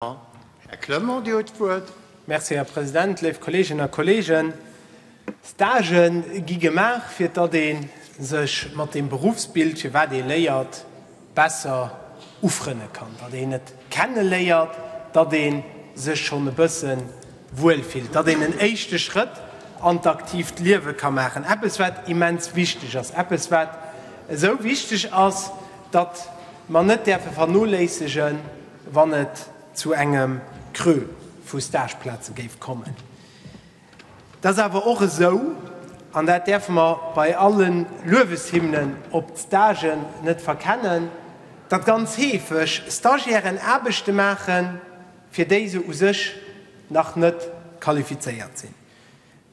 Här Clement, Dir hutt d'Wuert. Merci, Här President. Léif Kolleeginnen a Kolleegen, Stagë gi gemaach, fir datt ee sech mat deem Beruffsbild, firwat ee léiert, besser ufrënne kann, datt een et kenne léiert, datt ee sech schonn e bësse wuel fillt, datt een en éischte Schrëtt an d'aktiivt Liewe ka maachen. Eppes, wat immens wichteg ass, eppes, wat esou wichteg ass, datt mer net däerfe vernoléissegen, wann et zu engem Creux vu Stageplaze géif kommen. Et ass awer och esou, an dat däerfe mer bei alle Lueweshymnen op d'Stagen net verkennen, datt ganz heefeg Stagiairen Aarbechte maachen, fir déi se u sech nach net qualifizéiert sinn.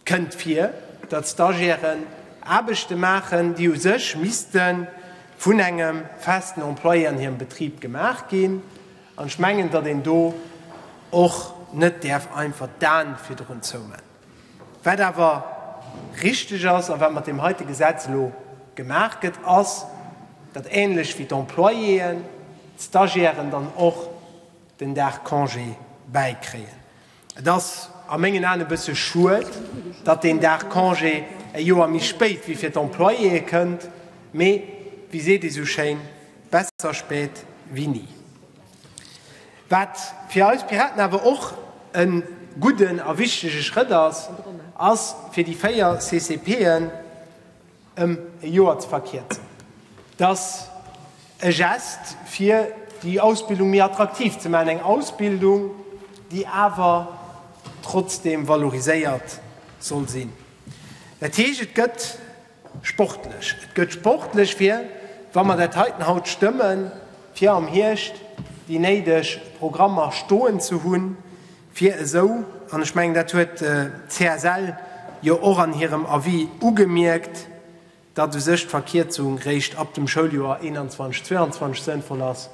Kënnt vir, datt d'Stagiairen Aarbechte maachen, déi u sech misste vun engem festen Employé an hirem Betrib gemaach ginn. An ech mengen, datt een do och net däerf einfach d'Aen virdrun zoumaachen. Wat awer richteg ass a wat mat deem heite Gesetz elo gemaach gëtt, ass, datt ähnlech wéi d'Employéen d'Stagiairen dann och den Dag Congé bäikréien. Et ass a mengen Aen e bësse schued, datt deen Dag Congé e Joer méi spéit wéi fir d'Employéë kënnt, mee wéi seet ee sou schéin, besser spät wéi ni. Wat fir eis Piraten awer och e gudden a wichtege Schrëtt ass, ass fir déi véier CCPen, ëm e Joer ze verkierzen. Et ass e Gest fir déi Ausbildung méi attraktiv ze maachen, eng Ausbildung, déi awer trotzdeem valoriséiert soll sinn. Dat heescht, et gëtt sportlech. Et gëtt sportlech fir, wa mer dat heiten haut stëmmen, fir am Hierscht déi néideg Programmer stoen ze hunn, Fir esou, an ech mengen dat huet d'CSL jo och an hirem Avis ugemierkt, datt u sech d'Verkierzung réischt ab dem Schouljoer 2021, 2022 sënnvoll ass,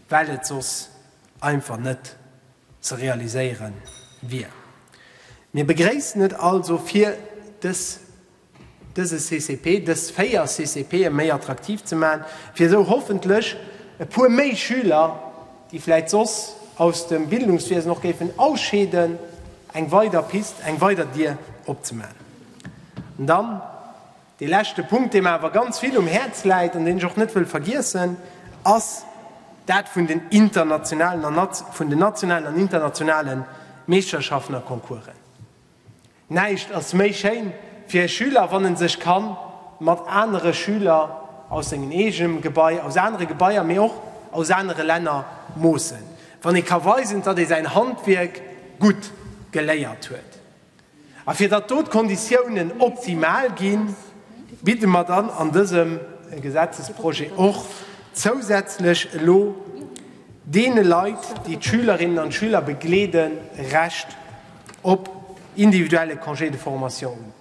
well et soss einfach net ze realiséiere wier. Mir begréissen et also fir dës. dëse CCP, dës véier CCPe méi attraktiv ze maachen, fir esou hoffentlech e puer méi Schüler, déi vläicht soss aus dem Bildungswiesen och géifen ausscheeden, eng weider Pist, eng weider Dier opzemaachen. An dann dee leschte Punkt, dee mer awer ganz vill um Häerz läit an deen ech och net wëll vergiessen, ass dat vun den internationalen, vun den nationalen an internationale Meeschterschaften a Concoursen. Näischt ass méi schéin fir e Schüler, wann en sech kann mat anere Schüler aus sengem eegem Gebai, aus anere Gebaier, mee och aus anere Länner moossen, wann ee ka weisen, datt ee säin Handwierk gutt geléiert huet. A fir datt do d'Konditiounen optimal ginn, bidde mer dann an dësem Gesetzesprojet och zousätzlech elo deene Leit, déi d'Schülerinnen an d'Schüler begleeden, Recht. op individuelle Congé de formation un.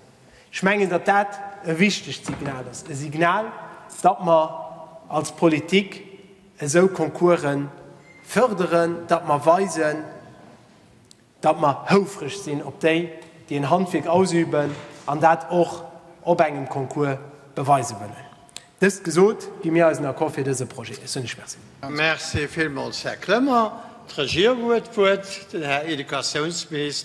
Ech mengen, datt dat e wichtegt Signal ass, e Signal, datt mer als Politik esou Concourse förderen, datt mer weisen, datt mer houfreg sinn op déi, déi en Handwierk ausüben an dat och op engem Concours beweise wëllen. Dëst gesot, gi mir eisen Accord fir dëse Projet. Ech soen lech Merci. Merci villmools, Här Clement. D'Regierung huet d'Wuert, den Här Educatiounsminis.